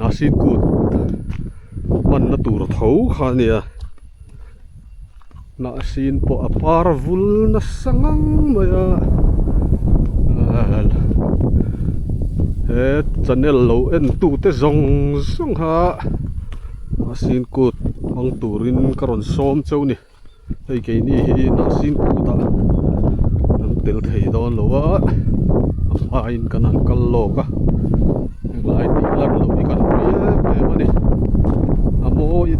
Nasipur hmanna tur tho kha a nia Nasin pawh a par vul nasa ngang mai a he channel lo en tute zawng zawng kha Nasin kut hmang turin ka rawn sawm chauh a ni. hei keini hi nursing kut a kan tel thei dawn lo va a hmain kan han kal lawk a helai tihna ber hi kan hmu em em a ni a mawi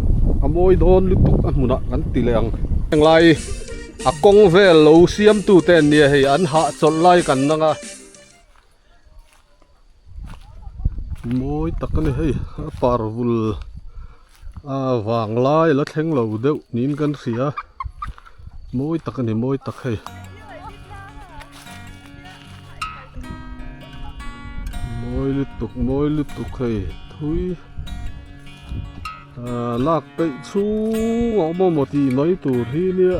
a mawi dawn lutuk a hmunah kan ti leh ang helai a kawng vel lo siam tute an nia hei an hahchawlh lai kan ang a. mawi tak a ni hei a par vul a vang lai ala thleng lo deuh niin kan hria mawi tak a ni mawi tak hei mawi lutuk mawi lutuk hei thui ahh lak peih chhung a awm a maw tih mai tur hi nia.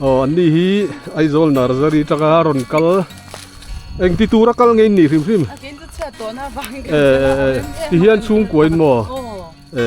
aw an ni hi aizawl nursery atanga rawn kal engti tura kal ngei anih hrim hrim e e tihian chhungkua in maw e.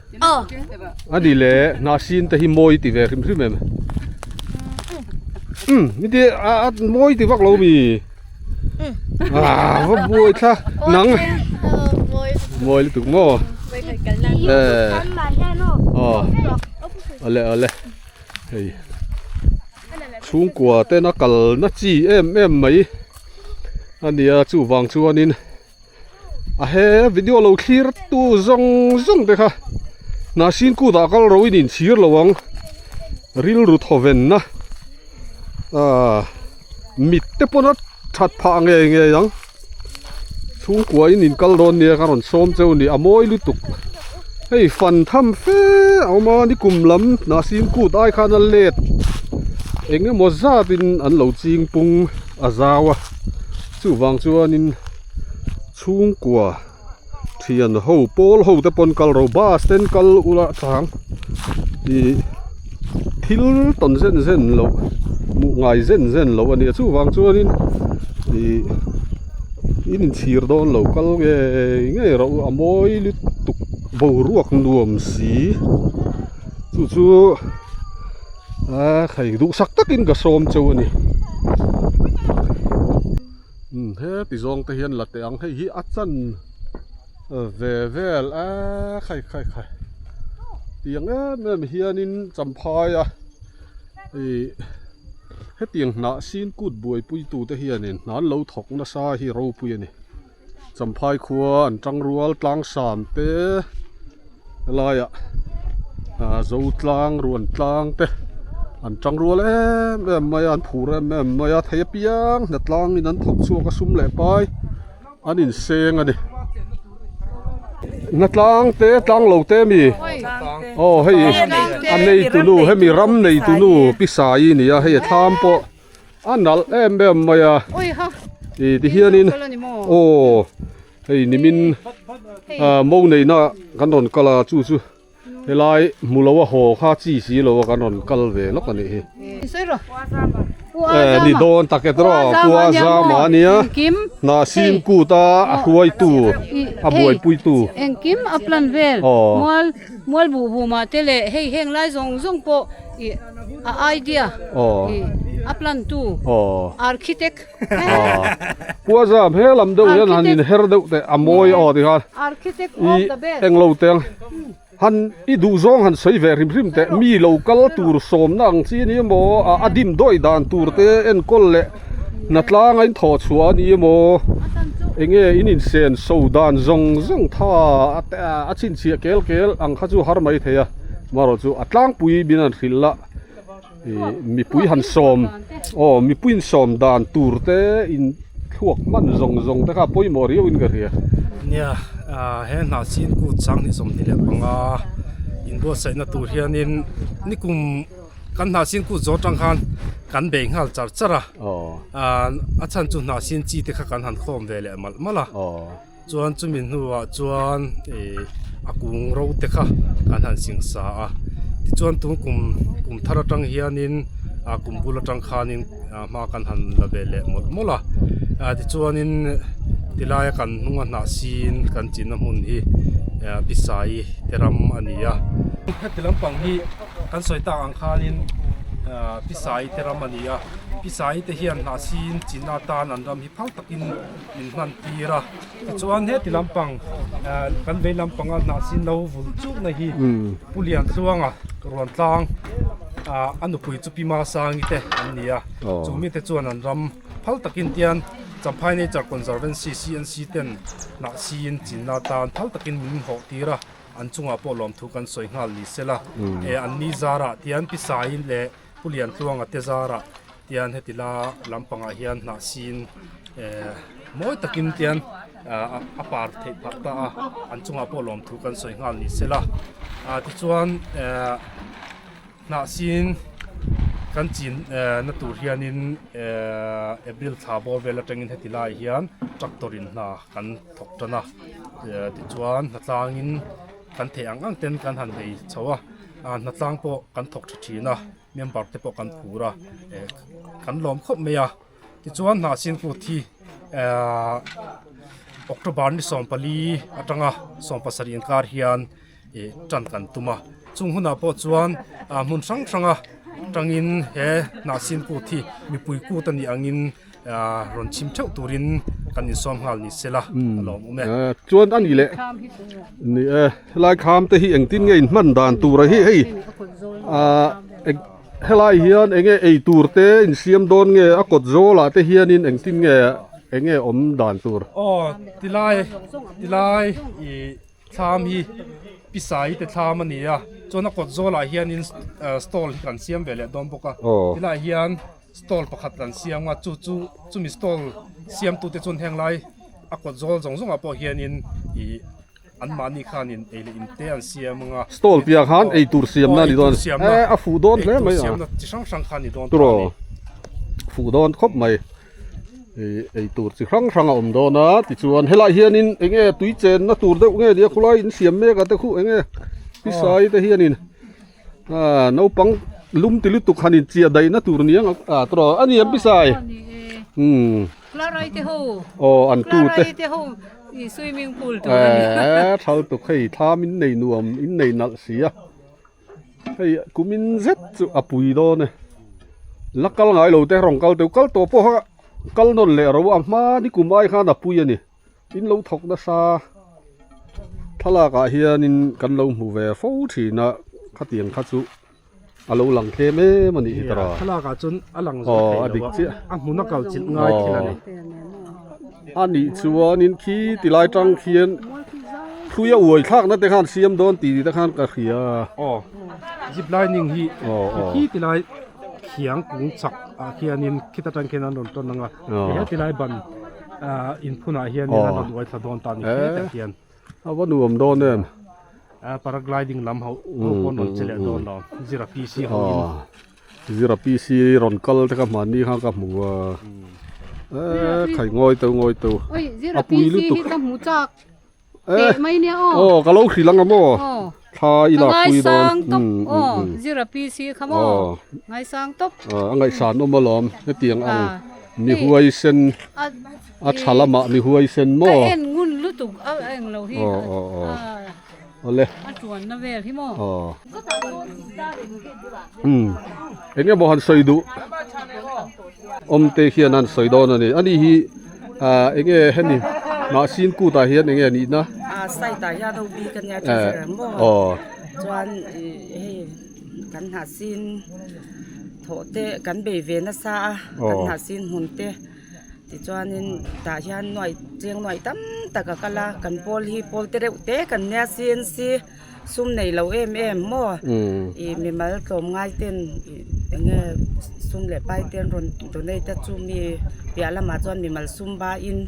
A ni le hna sin te hi mawi ti ve hrim hrim em um nite a mawi ti vak lo mi ah va buai thla nang mawi lutuk maw eh oh ole ole hei chhungkua tena kal na chi em em mai a nia chuvang chuan in ahe video lo thlir tu zawng zawng te kha nahsin kut ah kal ro in in chhir lo ang rilru thawven na ah mit te pawn a that phah nge nge ang chhungkua in in kal dawn nia ka rawn sawm cheu a ni a mawi lutuk hei fan tham fe a awm a ni kum lam nahsin kut ai khan a let eng emaw zat in an lo ching pung a zau a. Chuvang chuanin chhungkua thian ho pawl ho te pawn kal ro bus ten kal ula chang ih thil tawn zen zen loh hmuh ngai zen zen loh a ni a chuvang chuanin ih in inchhir dawn lo kal ngei ngei ro a mawi lutuk boruak nuam si chu chu-- Aa kha i duh sak takin ka sawm cheu a ni. He ti zawng te hian la teh ang hei hi a chan ve vel a khai khai khai. Tiang em em hianin champhai a i hetiang hnah sin kut buai pui tute hianin hna lo thawk nasa hi ropui a ni. Champhai khua an tang rual tlang sam te laiah ah zotlang ruan tlang te an tang rual em em mai a an phur em em mai a thei apiang hna tlangin an thawk chhuak a sum leh pai an inseng a ni hna tlang te tlang lo te a mi aw hei a nei tunu hemi ram nei tunu pisai a ni a hei a thlam pawh-- a nalh em em mai a ih tihianin aw hei nimin ah mo neihna kan rawn kal a chu chu helai hmu lo a haw kha chi si lo a kan rawn kal ve lawk a nih hi ni dawn tak e tawh Puazama nia hna sim kut a a hruaitu a buaipui tu aw. Mual buh buma te leh hei heng lai zawng zawng pawh ih a idea ih a plan tu architect Puaza hmel ang deuh hian han in her deuh teh a mawi aw ni kha ih eng lo teng han i duh zawng han sawi ve hrim hrim teh mi lo kal tur sawmna ang chi ni emaw a dim dawi dan tur te enkawl leh. hna tlanga in thaw chhuah a ni emaw eng nge in insen so dan zawng zawng tha a chhinchhiah kel kel ang kha chu har mai thei a amarawh chu a tlangpui in an hrilh la ihh mipui han sawm aw mipui in sawm dan tur te in thluak hman zawng zawng te kha a pawimawh riau in ka hria nia ah he hna chhingkut sanghnih sawmhnih leh panga inbuatsaihna tur hianin nikum-- kan hnah sin kut zawt tang khan kan bei nghal char char a, a chhan chu hnah sin chi te kha kan han khawm ve leh malh malh a, chuan chumi hnuah chuan a kung ro te kha kan han sing sa a, tichuan tun kum kum thar atang hianin a kum bul atang khanin hma kan han la ve leh mawlh mawlh a, tichuanin ti laia kan hnunga hnah sin kan chinna hmun hi Pisai te ram a ni a, heti lampang hi-- Kan sawi tak ang khanin Pisai te ram a ni a, Pisai te hian hnah sin chin atan an ram hi phal takin min hman tir a. Tichuan heti lampang kan vei lampanga hnah sin lo vul chukna hi Pu Liantluanga Ruan Tlang a nupui chu Pi Masangi te an ni a. Chu mite chuan an ram phal takin tian Champhai Nature Conservancy, CNC, ten hnah sin chin atan phal takin min hawh tir a. An chungah pawh lawmthu kan sawi nghal ni sela, e an ni zarah tian Pisaiin leh Pu Liantluanga te zarah tian heti la lampangah hian hnah sin e mawi takin tian a par theih phat ta a, an chungah pawh lawmthu kan sawi nghal ni sela. Tichuan e. Hnah siin kan chin na tur hian in April thla bawr vel atang in heti lai hian tractor in hna kan thawk tan a, ti chuan hna tlang in kan theh ang ang ten kan han hei chho a, hna tlang pawh kan thawk tha thin a, member te pawh kan phur a, kan lawm khawp mai a. Tichuan hna sin kut hi October ni sawm pali atanga sawm pasarih inkar hian tan kan tum a, chung hunah pawh chuan hmun hrang hranga tangin he hna sin kut hi mipui kut a nih angin rawn chim theuh turin kan insawm nghal ni sela a lawm um e. Chuan a nih leh, ni e, helai kham te hi engtin nge inhman dan tura hi hei eng-- Helai hian eng nge ei tur te in siam dawn nge a kawt zawl ah te hian in engtin nge eng nge awm dan tur. Aw ti lai ti lai i thlam hi pisa i te thlam a ni a chuan a kawt zawl ah hian in stall hi kan siam ve leh dawn bawk a ti lai hian stall pakhat kan siam a chu chu chumi stall siam tu te chuan heng lai a kawt zawl zawng zawng ah pawh hian in ih-- anmahni khan in ei leh in te an siam ang a, stall piah khan ei tur siamna a ni dawn a ni, e a fuh dawn hle mai a, chi hrang hrang khan a ni dawn turaw, a fuh dawn khawp mai, hei ei tur chi hrang hrang a awm dawn a, tichuan helai hian in eng nge tui chen na tur deuh nge nia a khawlai in siam mek a te khuh eng nge pisai te hian in a naupang lum ti lutuk han in chiah daih na tur ni ang a turaw, a ni ang pisai, umm khawlai te ho, aw an tu te. Thaltuk hei thlam in nei nuam in nei nalh si a hei kum in zet chu a pui dawn e la kal ngai lo te rawn kal teuh kal tawh pawh a kal nawn leh ro a hma ni kum ai khan a pui a ni in lo thawk nasa thlalak ah hian in kan lo hmu ve fo thin a khatiang kha chu-- Alo lang tlem em a nih tawh. Thlalak ah chuan a lang zawk theih lo a, a hmun a kal chilh ngai thil a ni. A nih chuanin khi ti lai tang khian thlui a uai thlak na te khan siam dawn ti te khan ka hria. Aw zip lining hi khi ti lai thiang kung chak ah khianin khit atang khian an rawn tawn ang a, he ti lai ban ah in phun ah hian an rawn uai thla dawn ta a ni khe tah khian. A va nuam dawn em? A paragliding lam ho pawh an rawn che leh dawn lo. Zira PC ho in. Aw, Zira PC rawn kal te ka hman ni kha ka hmu a. Eee khai ngawi teuh ngawi teuh. Oi Zira PC hi ka hmu chak teh mai nia aw. Aw ka lo hrilh ang a maw? Aw. Thla i lak pui dawn. Ka ngaisang tawp aw Zira PC kha maw? Aw. Ngaisang tawp. A ngaihsan awm alawm hetiang ang. Nihuaisen. a tha lama mi huaisen maw ka en ngun lutuk a eng lo hi aw aw aw ole a tuan na vel hi maw aw um eng emaw han sawi duh awm te hian han sawi dawn a ni a ni hi ah eng nge hemi mah sin kut ah hian eng nge nih na ah side ah hian robi ka nia tha zel ang maw aw chuan hei kan hnah sin thawh te kan bei ve nasa a kan hnah sin hun te Tichuanin tah hian nuaih chiang nuaih tam tak a kal a, kan pawl hi pawl te reuh te kan nia sian si sum nei lo em em maw i mimal tlawm ngai ten enge sum leh pai te an rawn donate a chu mi piah lamah chuan mimal sum ba in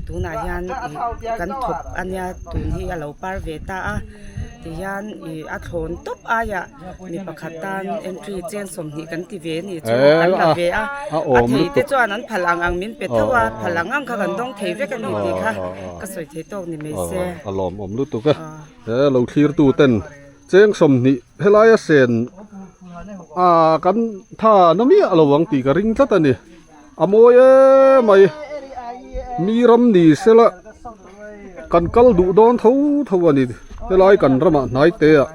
tunah hian i kan thawp a nia tun hi a lo par ve ta a tihian i a thlawn tawp aiah-- Mi pakhat tan entry chen sawmhnih kan ti ve a nih chu an la ve a, a thei te chuan an phal ang ang min pe thauh a, phal ang ang kha kan dawng thei vek a ni tih kha ka sawi thei tawk ni mai se. A lawm awm lutuk a, he lo thlir tu ten cheng sawmhnih helai a sen a kan tha na miah lo ang tih ka ring tlat a ni. A mawi eee mai mi ram ni sela kan kal duh dawn tho tho a ni helai kan ramah hnaite ah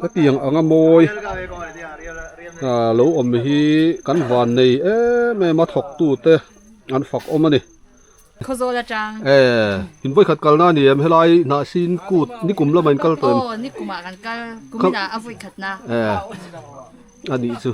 hetiang anga mawi lo awm hi kan van nei em em a thawk tu te an fak awm a ni Khazawl atang eeh in vawi khat kal na ni em helai hnah sin kut nikum lamah in kal tawh em aw nikumah kan kal kum inah a vawi khat na eeh a nih chu.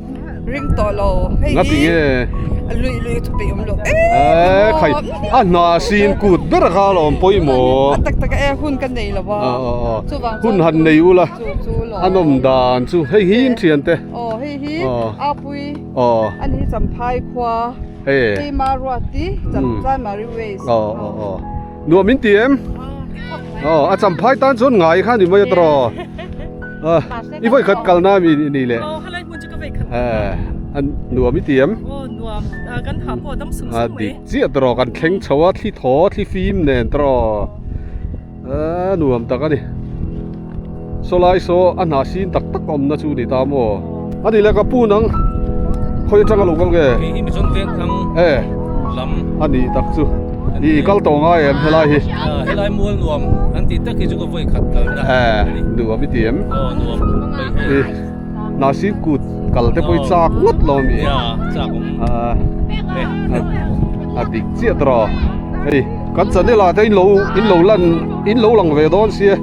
ring tawh lo hei hi a lui lui a thupeih awm lo a hna sin kut ber a kal a awm pawimawh a tak tak a hun ka nei lo a hun han nei ula an awm dan chu hei hi an thian te aw hei hi apui a ni hi champhai khua hei hi maruati chamchai mari waste aw aw aw. nuah min ti em aw a cham phai tan chuan ngai kha ni mai a tara aw i vawi khat kal na a ni leh aw halai hmun chu ka vawi khat a ni nuam i ti em aw nuam a kan phah pawh a dang sum sum mai a dik chiah tara kan thleng chho a thli thaw thli fim nen tara a nuam tak a ni. Saw lai saw a hna sin tak tak awmna chu ni ta maw? A ni le ka pu nang khawi atang a lo kal nge? Kei hi Mizon Vengthlang lam a ni tak chu i kal tawh ngai em helai hi? Helai mual nuam an tih tak hi chu ka vawikhat kalna a ni. Nuam i ti em? Aw nuam, paihmel. hnah sir kut kal te pawh hi chak ngawt lo a ni e a dik chiah tawrh a hei kan channel ah te in lo in lo lan in lo lang ve dawn sia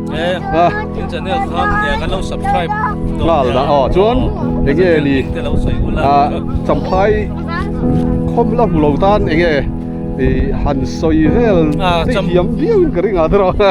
nghal dah aw chuan eng nge ni champhai khawm la hmu lo tan eng nge i han sawi vel te hiam viau in ka ring ah tawrh a.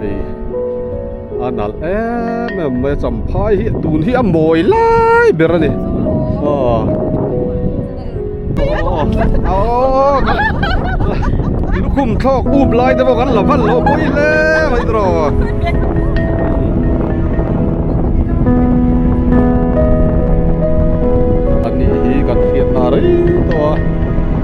Hei a nalh em em mai a champhai hi tun hi a mawi lai ber a ni aw lukhum thlawk up lai te pawh kan la val lo pawh i le mai te râw anih hi kan hriat ta rei tawh a.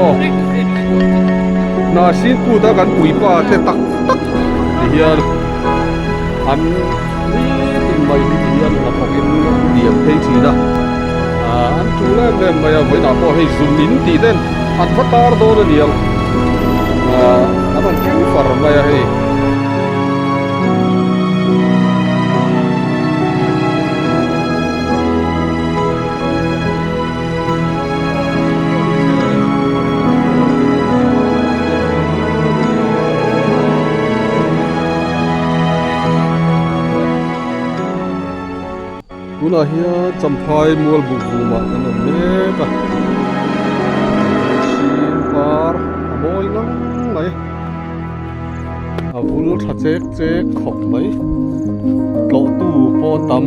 Aw Narsing puta kan puipa te tak tak ti hian an nitin mai hi ti hian a pawk in diam phei thin a an ṭhu lem lem mai a vawiinah pawh hei zun in tih ten an va tar dawn a nia an rawn tling far mai a hei Tunah hian Champhai mual buk bum ah kan awm mek a, mihring par a mawi ngang mai, a vul tha chek chek khawp mai, tlawhtu pawh a tam.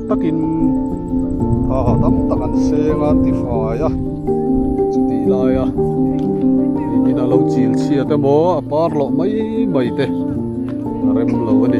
takin thaha tam tak an seng a an ti fai a chutih laia mimin a lo chil chhiat em aw a par loh mai mai te a rem lo a ni